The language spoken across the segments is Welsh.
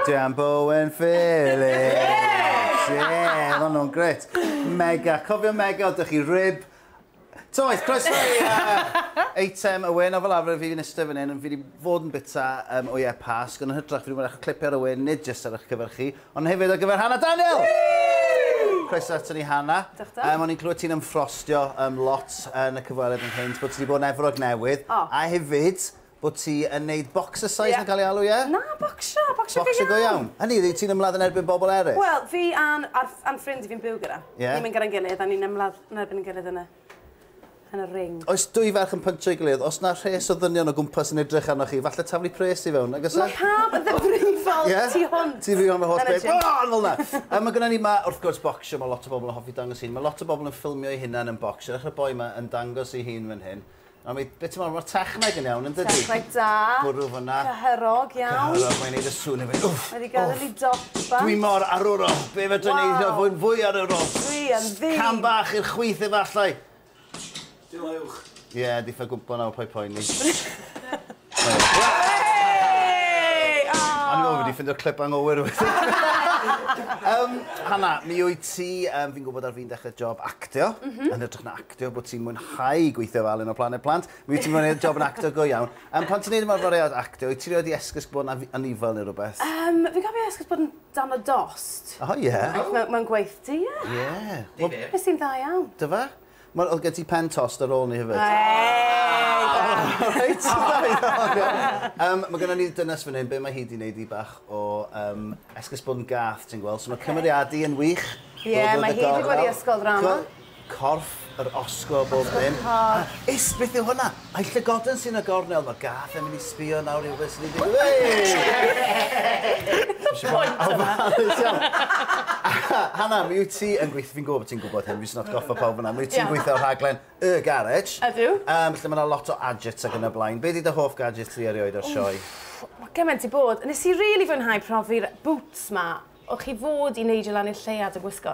Jam Bowen Phillips! Ie, yeah, ma' nhw'n gret. Mega, cofio mega, ydych chi rib. Toes, croeso i uh, eitem y wyn, o fel arfer fi fi'n eistedd fan hyn, fi wedi fod yn bita um, o ie pasg, ond yn hytrach fi wedi bod eich clipio ar y wyn, nid jyst ar eich cyfer chi, ond hefyd ar gyfer Hannah Daniel! Croeso ato ni Hannah. Diolch da. Um, o'n i'n clywed ti'n ymffrostio um, lot yn y cyfweliad yn hyn, bod ti wedi bod yn efrog newydd, oh. a hefyd, bod ti yn neud boxercise yeah. mae'n cael ei alw, ie? Yeah? Na, bocsio, bocsio go iawn. Bocsio go iawn. Hynny, dwi ti'n ymladd yn erbyn bobl eraill? Wel, fi a'n am ffrind i fi'n byw gyda. Yeah. Ni'n mynd gyda'n gilydd a ni'n ymladd yn erbyn yn gilydd yna. Yn y ring. Oes dwy ferch yn pynsio'i gilydd, os na rhes o ddynion o gwmpas yn edrych arnoch chi, falle taflu pres i fewn, agos e? Mae pawb yn ddifrifol yeah? tu hwnt. Ti fi o'n holl beth. Oh, fel na. A mae gyda ni ma, wrth gwrs, bocsio, mae lot o bobl yn hoffi dangos hyn. Mae lot o bobl yn ffilmio ei hunan yn bocsio. Ddechrau boi yma yn dangos ei hun fan hyn. A mae, be ti'n meddwl, mae'r techneg yn iawn, yn dydy? Techneg da. Bwrw fyna. Cyhyrog iawn. Cyhyrog, mae'n neud y sŵn hefyd. Wff! Mae wedi gael ei dosba. Dwi mor arwrol. Be fe dwi'n neud fod yn fwy arwrol? Dwi yn ddi. Cam bach i'r chwith efallai. Diolch. Ie, yeah, di ffa gwmpo nawr, poi poeni. O'n i'n meddwl bod wedi ffeindio'r clip anghywir um, Hanna, mi wyt ti, um, fi'n gwybod ar fi'n dechrau job actio, mm -hmm. yn hytrach na actio, bod ti'n mwynhau gweithio fel un o Planet Plant, mi wyt ti'n mwynhau job yn actio go iawn. Um, pan ti'n neud yma'r fariad actio, wyt ti'n rhoi di esgus bod yna anifel neu rhywbeth? Um, fi gofio esgus bod yn dan o dost. O, oh, ie. Yeah. Mae'n gweith di, ie. Ie. Nes i'n dda iawn. Dyfa? Mae oedd gen ti pen tost ar ôl ni hefyd. Eeeii da! O reit da iawn iawn. Yym mae gynna ni dynes fan hyn be mae hi 'di neud i bach o yym esgus bod yn gath ti'n gweld so mae cymeriadu yn wych. Ie mae hi 'di bod i ysgol ddrama. Corff yr osgo a bob dim. Ysgol y corff. Is beth yw hwnna? I llygoden sy'n y gornel, ma gath e mynd i sbio nawr i wybod beth sy'n digwydd. What's the point of that? Hanna, mi wyt ti yn gweithio, fi'n gwybod bod ti'n gwybod hyn, fi jyst yn atgoffa pawb yna, mi wyt ti'n gweithio ar rhaglen Y Garej. Ydw. Um, lle mae yna lot o adjets ac yn y blaen. Be di dy hoff gadget ti erioed o'r sioe? Mae gymaint i bod. Nes i rili really fwynhau profi'r boots ma. O'ch chi fod i neidio lan i'r lleuad yn gwisgo?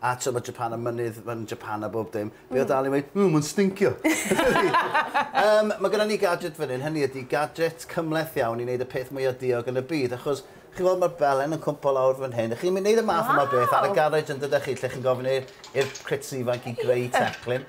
A t'o' ma' Japan a mynydd yn Japan a bob dim. Fi o dal i weud ww ma'n stincio. Yym ma' gynnon ni gadget fyn 'yn hynny ydi gadget cymhleth iawn i neud y peth mwya diog yn y byd achos chi'n weld ma'r belen yn cwmpo lawr fyn hyn a chi'n myn' neud y math yma o beth ar y garej yndydech chi lle chi'n gofyn i i'r crits ifanc i greu teclyn.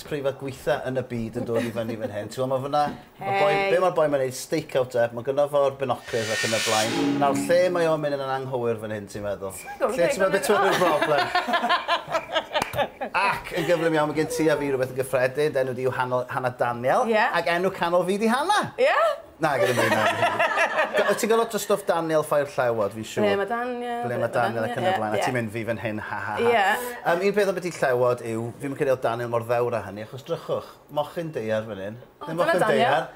preifat gweitha yn y byd yn dod i fyny fan hyn. Ti'n gwybod, mae fyna... Hei! Be mae'r boi mae'n neud? Stakeout e. Mae gynno fo'r binoculars ac yn y blaen. Nawr, lle mae o'n mynd yn anghywir fan hyn, ti'n meddwl? Lle ti'n meddwl beth yw'r broblem? Ac yn gyflym iawn, mae gen ti a fi rhywbeth yn gyffredin. Enw di yw Hannah Daniel. Ie. Ac enw canol fi di Hannah. Ie? Na, gad i mi wneud e. Ti'n cael lot o stwff Daniel Ffair-llewod, fi'n siŵr. Ble mae Daniel? Ble mae Daniel ac yn y blaen. A ti'n mynd, fi fan hyn, ha ha ha. Ie. Yym, un peth am biti llewod yw, fi ddim yn credu oedd Daniel mor ddewr â hynny, achos drychwch, mochyn daear fan hyn. O, dyna Daniel.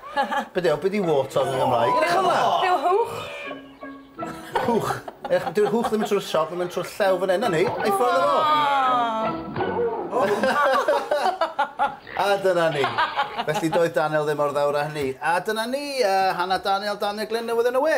Be 'di o, be 'di wart arno fe yn Gymraeg? Edrych ar 'na! Be yw hwch? Hwch! Ech, dyw'r hwch ddim yn trwy'r siop, mae'n trwy'r llew fan hyn, na ni, ei ffordd o fo! A dyna ni. Felly doedd Daniel ddim mor ddewr â hynny. A dyna ni, uh, Hannah Daniel, Daniel Glyn newydd yn y we.